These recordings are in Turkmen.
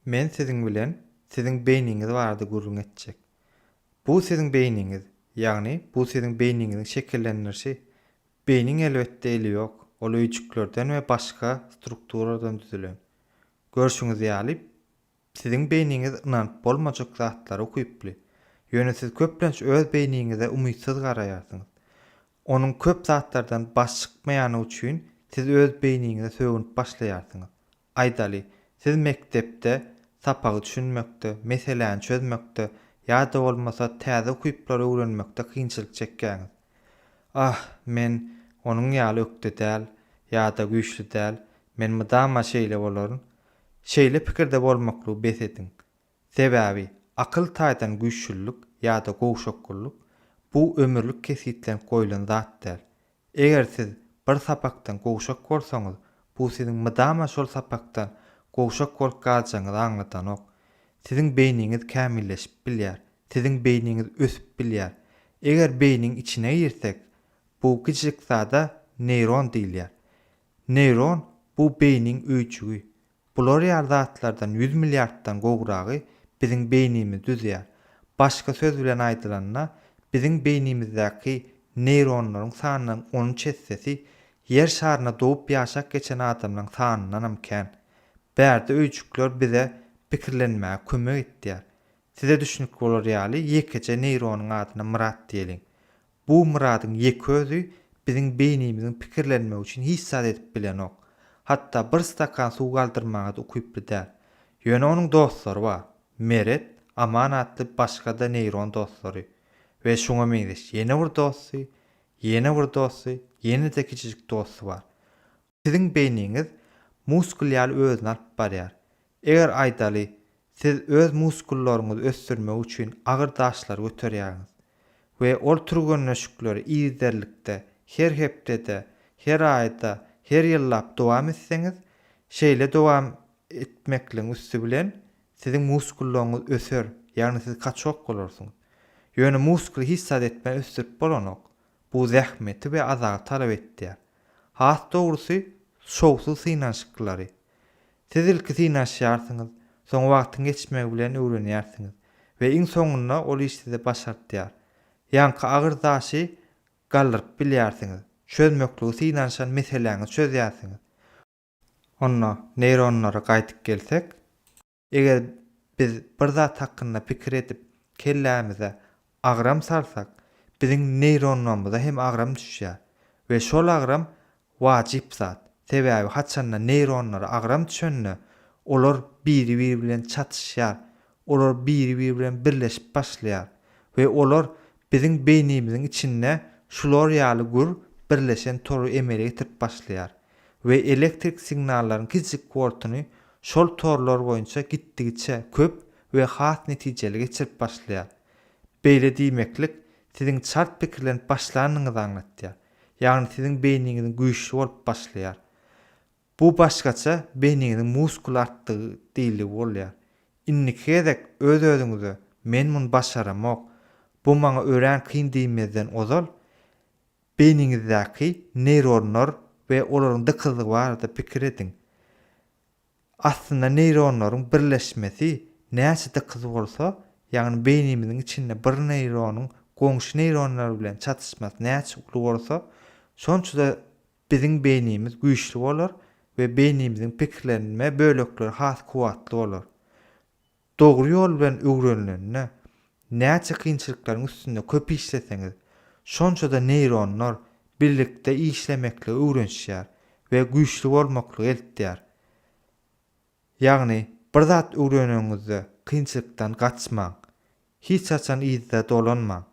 Men siziň bilen siziň beýniňiz barada gürrüň etjek. Bu siziň beýniňiz, ýagny bu siziň beýniňiziň şekillendirişi. Beýniň elbetde eli ýok, ol öýjüklerden we başga strukturadan düzülen. Görşüňiz ýaly, siziň beýniňiz ynanyp bolmajak zatlara ukyply. Ýöne siz köplenç öz beýniňize umytsyz garaýarsyňyz. Onuň köp zatlardan baş çykmaýany üçin siz öz beýniňize sögünip başlaýarsyňyz. Aýdaly, siz mekdepde sapagy düşünmekde, meseläni çözmekde ýa-da bolmasa täze ukyplary öwrenmekde kynçylyk çekýäňiz. Ah, men onuň ýaly ökde däl ýa-da güýçli däl, men mydama şeýle bolaryn. Şeýle pikirde bolmaklygy bes ediň. Sebäbi, akyl taýdan güýçlülik ýa-da gowşakgyllyk, bu ömürlik kesgitlenip goýlan zat däl. Eger siz bir sapakdan gowşak bolsaňyz, bu siziň mydama şol sapakdan gowşak bolup galjagyňyzy aňladanok. Siziň beýniňiz kämilleşip bilýär, siziň beýniňiz ösüp bilýär. Eger beýniň içine girsek, bu kiçijik zada neýron diýilýär. Neýron, bu beýniň öýjügi. Bular ýaly zatlardan ýüz milliarddan gowragy biziň beýnimiz düzýär. Başga söz bilen aýdylanda, biziň beýnimizdäki neýronlaryň sanynyň on üç essesi Ýer şarynda dogup ýaşap geçen adamlaryň sanyndanam kän. Bärde öýjükler bize pikirlenmäge kömek etýär. Size düşnükli bolar ýaly ýekeje neýronyň adyna Myrat diýeliň. Bu Myradyň ýeke özi biziň beýnimiziň pikirlenmegi üçin hiç zat edip bilenok. Hatda bir stakan suw galdyrmaga-da ukyply däl. Ýöne onuň dostlary bar. Meret, Aman atly başga-da neýron dostlary we şuňa meňzeş ýene bir dosty, ýene bir dosty, ýene-de kiçijik dosty bar. Siziň beýniňiz muskul ýaly özüni alyp barýar. Eger aýdaly, siz öz muskullaryňyzy ösdürmek üçin agyr daşlary göterýäňiz we ol türgenleşikleri yzderlikde, her hepdede, her aýda, her ýyllap dowam etseňiz, şeýle dowam etmekligiň üsti bilen siziň muskullaryňyz öser, ýagny siz kaçok bolarsyňyz. Ýöne muskuly hiç zat etmän ösdürip bolanok. Bu zähmeti we azagy talap etýär. Has dogrusy, şowsuz synanyşyklary. Siz ilki synanyşýarsyňyz, soň wagtyň geçmegi bilen öwrenýärsiňiz we iň soňunda ol iş size başartýar. Ýaňky agyr daşy galdyryp bilýärsiňiz, çözmekligi synanyşan meseläňizi çözýärsiňiz. Onda neýronlara gaýdyp gelsek. Eger biz bir zat hakynda pikir edip, kellämize agram salsak, biziň neýronlarymyza hem agram düşýär we şol agram wajyp zat. Sebäbi haçanda neýronlara agram düşende, olar biri-biri bilen çatyşýar, olar biri-biri bilen birleşip başlaýar we olar biziň beýnimiziň içinde şular ýaly gür birleşen tory emele getirip başlaýar. we elektrik signallaryň kiçijik wortuny şol torlar boýunça gitdigiçe köp we has netijeli geçirip başlaýar. Beýle diýmeklik siziň çalt pikirlenip başlanyňyzy aňlatýar, ýagny siziň beýniňiziň güýçli bolup başlaýar. Bu başgaça beýniňiziň muskul artdygy diýiligi bolýar. Indiki gezek öz-özüňize men muny başaramok, bu maňa örän kyn diýmezden ozal, Beýniňizdäki neýronlar we olaryň dykyzlygy barada pikir ediň. Aslynda neýronlaryň birleşmesi näçe dykyz bolsa, ýagny beýnimiziň içinde bir neýronyň goňşy neýronlar bilen çatyşmasy näçe uly bolsa, şonça-da biziň beýnimiz güýçli bolar we beýnimiziň pikirlenme bölekleri has kuwwatly bolar. Dogry ýol bilen öwrenilende, näçe kynçylyklaryň üstünde köp işleseňiz, şonça-da neýronlar birlikde işlemekligi öwrenişýär we güýçli bolmaklygy eltýär. Ýagny, bir zat öwreneňizde kynçylykdan gaçmaň. Hiç haçan yzda dolanmaň.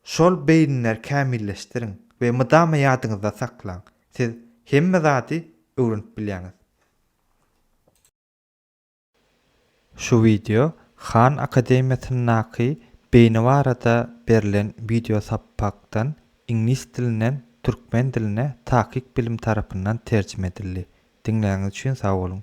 Şol beýniler kämilleşdiriň we mydama ýadyňyzda saklaň, siz hemme zady öwrenip bilýäňiz. Şu wideo Han akademiýasyndaky beýni barada berlen wideo sapakdan iňlis dilinden türkmen diline Takyk bilim tarapyndan terjime edildi. Diňläňiz üçin sag boluň.